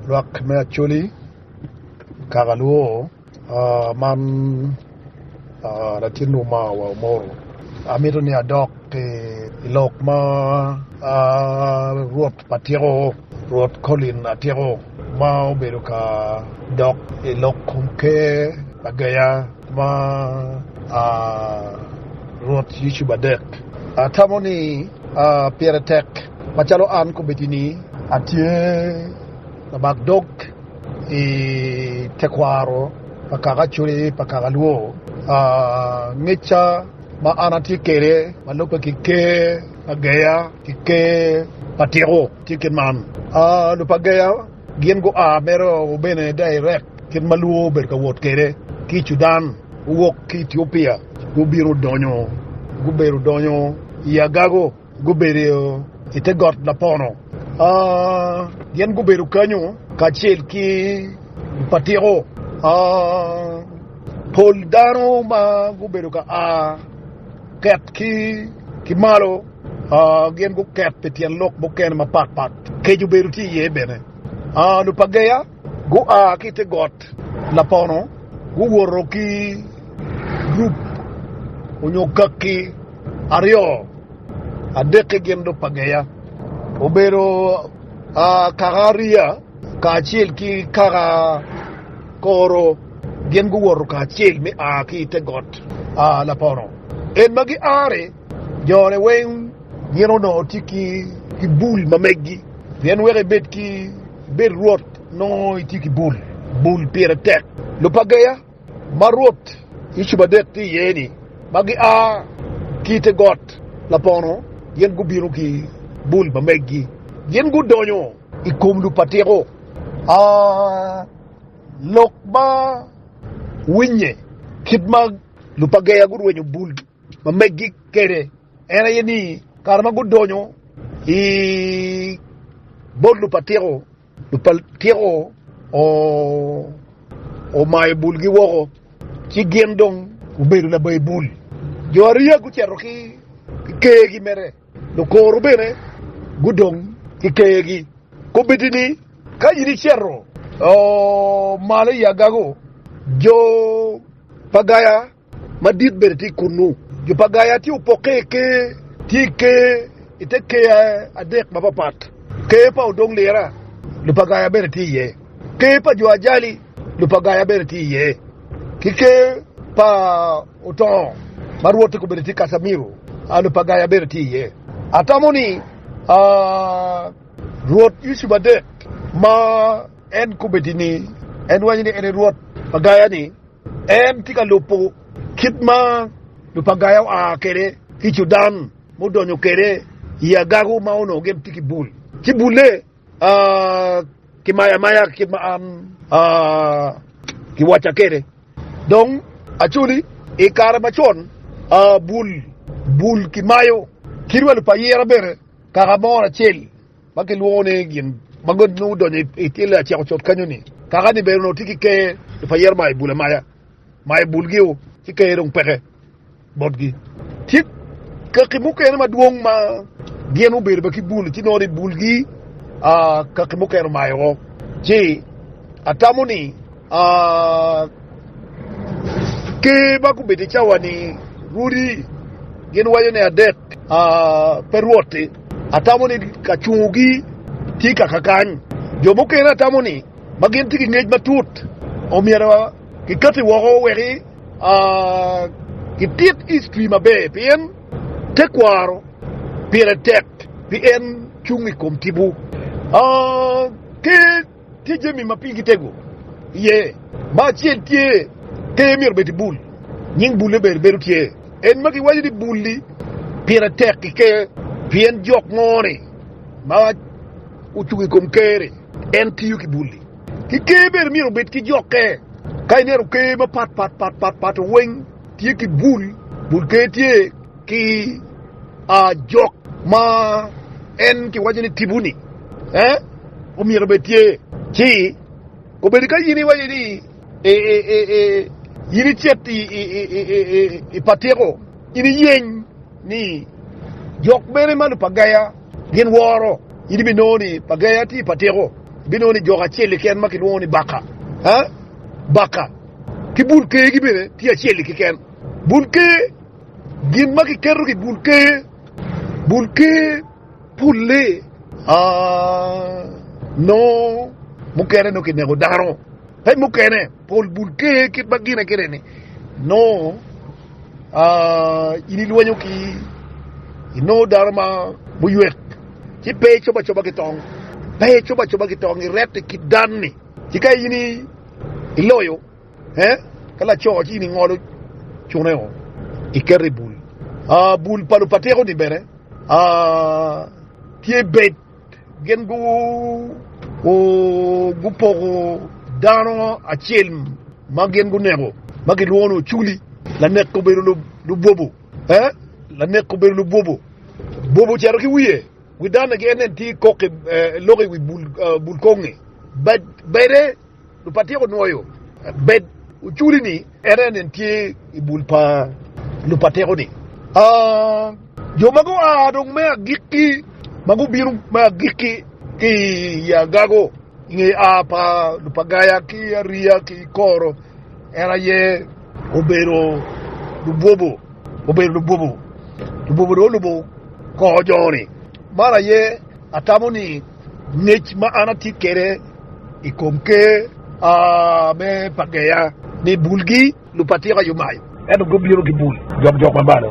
Lwak me Acholi, Kakalwo, man latin Uma wa Omoro. Amito ni adok ki i lok ma Rwot pa tyeko, Rwot Collin Atyeko ma obedo ka dok i lok kom Ker pa Geya ma Rwot Yucu Badek. Atamo ni pire tek. Macalo an kobedini atye labak dog i tekwaro pa kaka Acholi pa kaka Luo, ngecca ma an atye kwede ma lubbe ki Ker Ageya ki Ker Matiko tye kit man, Lub Ageya gin gua mere o bene direct kit ma Luo obedo ka wot kwede ki i Cudan, guwok ki i Etiopia gubino gudonyo i Agago. Gubedo i te got lapono. Gin gubedo kanyu kacel ki patiko. Pol dano ma gubedo ka a ket ki malo gin guket pi tyen lok mukene mapatpat. Kec obedo tye iye bene. Lupageya Gua ki i te got lapono, guwoto ki gurup onyo kakki aryo, adekke gin dong pa Geya. Obedo kaka Ariya kacel ki kaka Koro gin guwoto kacel me a ki i te got lapono. En ma gia-ri. Jone weng gin onongo tye ki ki bul ma megi pien wek ibed ki ibed rwot nongo itye ki bul, bul pire tek. Lupageya ma rwot Yecu adek tye iye ni ma gia ki ite got lapono gin gubino ki bul ma megi gin gudonyo ikom lupatiko a lok ma winye kit ma lupageya gurwenyo bul. Ma meggi kwede en aye ni, kare ma gudonyo i bot lupatyeko, lupatyeko omayo bulgi woko, ci gin dong gubedo labayi bul. Jo ariya gucito ki kergi mere, lukoro bene gudong ki kergi. Kombeddi ni, ka in icito malo i agago, jo pa gaya, Madit bene tye kunnu. Jo pa Gaya tye opokke i ker, tye i ker, i te ker adek mapapat, Ker pa odong lira, jo pa Gaya bene tye iye, ker pa jo ajali, jo pa Gaya bene tye iye, ki ker pa otongo, ma rwotte kobedo tye Kasamiro, jo pa Gaya bene tye iye. Atamo ni Rwot Yusuf adek ma en kobedo ni en rwanyo ni en aye Rwot pa Gaya-ni, En tye ka lubo kit ma Lupagaya oa kwede ki Cudan ma odonyo kwede i agago ma onongo gin tye ki bul, ci bulle kimayo amaya kit ma an kiwacca kwede. Dong acoli, i kare macon bul kimayo kit wa lupayira bene kaka moro acel. ma kilwongo ni gin ma god nongo odonyo i tyelle aceko cot kanyo-ni. Kaka ni bene onongo tye ki ker i pa yero ma i bul amaya, ma i bulgi-wu ci ker dong peke botgi. Tye kaki mukene madwong ma gin gubedo bene ki bul, ci nongo ni bulgi kaki mukene omayo woko. Ci atamo ni. Ker ma gubedo i cawa-ni rwodi gin waco ni adek pe rwotti, atamo ni kacungogi tye kaka kany. Jo mukene atamo ni ma gin tye ki ngec matut omyero kikati woko wek kitit history maber pien tekwaro pire tek pien cung i kom tipo. Tye jami ma pigi tego iye ma acel tye keyo myero obed i bul. Nying bulle ber bedo tye en ma giwaco ni bul-li pire tek ki ker pien jok mo-ni ma ocung i kom ker-ri en tiyo ki bul-li. Ki ker bene myero obed ki jokke. Ka ineno ker mapat pat pat pat pat weng tye ki bul, bul ker tye. Ki ajok ma en kiwaco ni tipo-ni omyero obed tye, ci kobedo ka in iwaco ni in icit i patiko, in iyeny ni jok mene ma Lupagaya gin woro, in ibinongo ni Pagaya tye i patiko, ibinongo ni jok acel keken ma kilwongo ni Baka, Baka ki Bul Ker-gi bene tye acel-li keken, Bul Ker. Gin ma kiketo ki bul ker, bul ker pulle nongo mukene nongo kineko dano, pe mukene pol bul ker kit ma gine kene ni nongo in ilwenyo ki inongo dano ma muywek ci pe icob acoba ki tong, pe icob acoba ki tong iret i kit dan-ni ci ka in iloyo. Ka laco ci in ingolo cune o, iketo i bul. Bul pa lupateko-ni bene tye bed, gin gupoko dano acel ma gin guneko ma kilwongo ni oculi, lanek obedo lubwobo. Lanek obedo lubwobo, bwobo ocito ki wiye, wi danne ki en tye kok lok i wi bul kongnge bade. Lupatyek onwoyo bed oculi ni en aye nen tye i bul pa lupatyeko ni jo ma gua dong me agikki ma gubino me agikki ki i agago i nge a pa lupagaya ki ariya ki koro en aye obedo lubwobo obedo lubwobo lubwobo dong olubo kor jo ni. Man aye atamo ni ngec ma an atye kwede i kom Ker me Pageya ni, Bulgi lupatika yo mayo, ento gubino gibul jokjok ma malo.